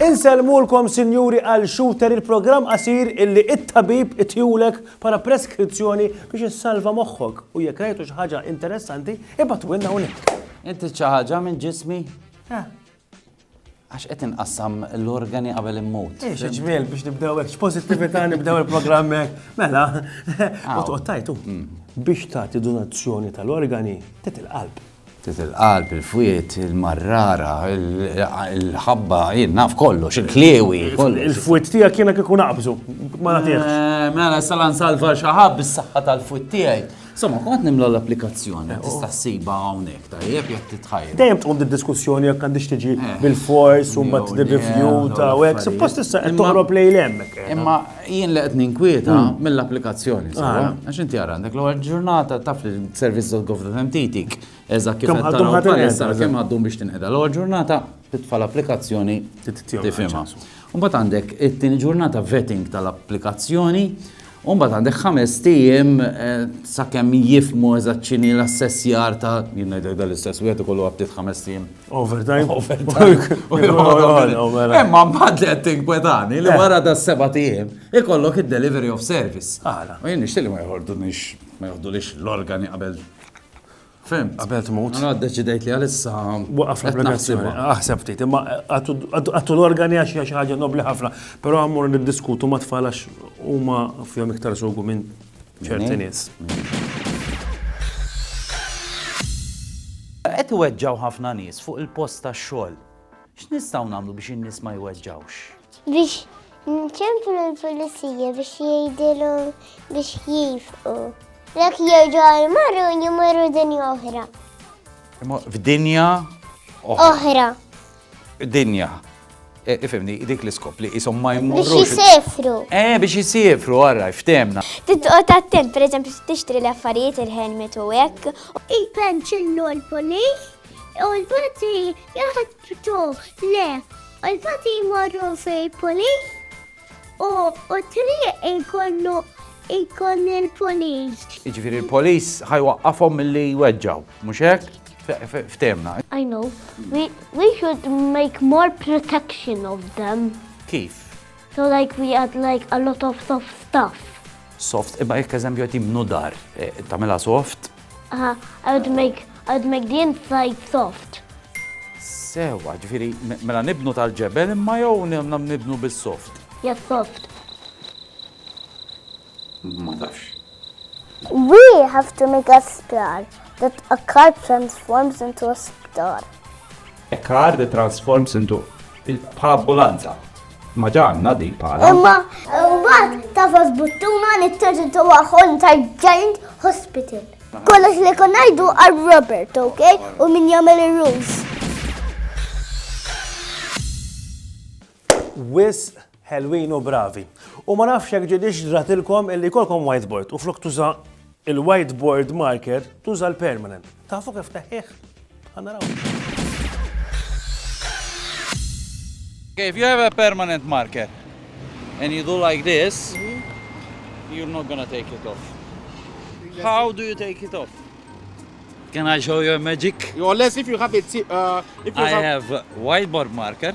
Inselmulkom sinjuri għal shooter il-programm qasir illi it-tabib itjulek para preskrizzjoni biex issalva moħħok u jekk rajtu xi ħaġa interessanti ibatu winna unik. Inti xi ħaġa minn ġismi? Eh. Għax qed inqassam l-organi qabel immut. Ix, ġmiel biex nibdew hekk, x'pożittività nibdew il-programm hekk. Mela, u tqgħod tajtu. Mm. Biex tagħti donazzjoni tal-organi, tit il-qalb. Tit il-qalb, il-fwiet, il-marrara, il-ħabba, jien naf kollox, il-kliewi, kollox. Il-fwiet tiegħek jiena kieku naqbżu, ma nagħtihx. Eh, mela, salan salva xi ħabb is-saħħa tal-fwiet tiegħi. Insomma, kont nimla l-applikazzjoni, tista' ssibha hawnhekk, tajjeb jekk titħajr. Dejjem tqum diskussjoni jekk għandix tiġi eh, bil-fors u mbagħad nirrifju ta' hekk, suppost issa qed toħrob lejn hemmhekk. Eh. Imma jien li qed ninkwieta hmm. mill-applikazzjoni, ah. għax inti ara għandek l-ewwel ġurnata taf li servizz tal-government titik eżatt kif qed taraw kemm għaddum biex tinqeda l-ewwel ġurnata titfa' l-applikazzjoni tifhimha. U mbagħad għandek it-tieni ġurnata vetting tal-applikazzjoni, u mbagħad għandek ħames ijiem sakemm jifhmu eżatt x'inhi l-assessjar ta' jien ngħidlek dan l-istess wieħed ikollu għad ftit ħames ijiem. Overtime. Imma mbagħad li qed tinkwetani li wara da seba' ijiem ikollok id-delivery of service. U jien nixtieq li ma joħordunix ma joħdulix l-organi qabel Fem, qabel tmut. Għana deċidejt li għalissa. Waqaf l-applikazzjoni. Aħseb ftit, imma għattu l-organi għax hija xi ħaġa nobli ħafna, però għammur niddiskutu ma tfal għax huma fihom iktar sugu minn ċerti nies. Qed weġġaw ħafna nies fuq il-post tax-xogħol X'nistgħu nagħmlu biex in-nies ma jweġġgħux? Biex nċemplu l-pulizija biex jgħidilhom biex jifqu. Lek jerġgħu għal marru jimorru dinja oħra. F'dinja oħra. Dinja. E, ifimni, dik l-iskop li jisom ma jmurru. Biex jisefru. Eh, biex jisefru, għarra, ftemna. Titqot attent, per eżempju, tixtri l-affarijiet il-helmet u hekk. Ipenċillu l-polis u l-polizzi Jaħtbtu, le, u l-fati jmorru fej polis u u triq ikollu ikon il-polis. Iġviri l-polis ħajwaqqafhom mill-li jweġġaw, mhux hekk? Ftemna. I know. We, we should make more protection of them. Kif? So like we had like a lot of soft stuff. Soft, imma jekk eżempju qed jibnu dar, eh, tagħmilha soft? Uh, I would make I would make the inside soft. Sewa, ġifieri mela nibnu tal-ġebel imma jew nibnu bis-soft. Yes, soft. ma tafx. We have to make a sptar that a car transforms into a sptar. A car that transforms into il-ambulanza. Ma ġanna di pala. Imma, għad, tafas buttuna li t-terġintu għahon ta' giant hospital. Kollox li konajdu għal Robert, ok? U min jagħmel ir-rules. Wisq ħelwin u bravi. U ma nafx jekk ġietx ġratilkom illi jkollkom whiteboard u flok tuża il-whiteboard marker tuża l-permanent. Tafu kif teħħih? Ħanaraw. Okay, if you have a permanent marker and you do like this, you're not gonna take it off. How do you take it off? Can I show you a magic? Unless if you have it, uh, if you I have, have whiteboard marker.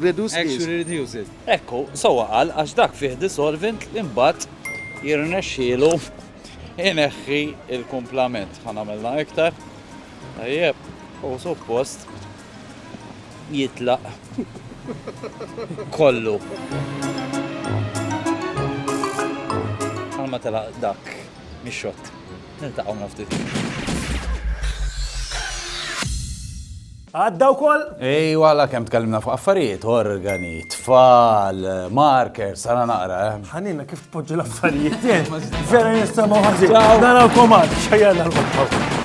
reduce is. Ekku, sewwa qal għax dak fih dissolvent li mbagħad jirnexxielu jneħħi l-kumplament. Ħa nagħmilha iktar. Tajjeb, u suppost jitlaq kollu. Bħal ma telaq dak mix-xott. Niltaqgħu minn ftit. Għadda wkoll? Ejwa, alla kemm tkellimna fuq affarijiet, organi, tfal, markers, ara naqra, eh. Ħanina kif tpoġġi l-affarijiet, eh? Vera nisimgħu ħażin. Narawkom għad, xejjana l-qodħol.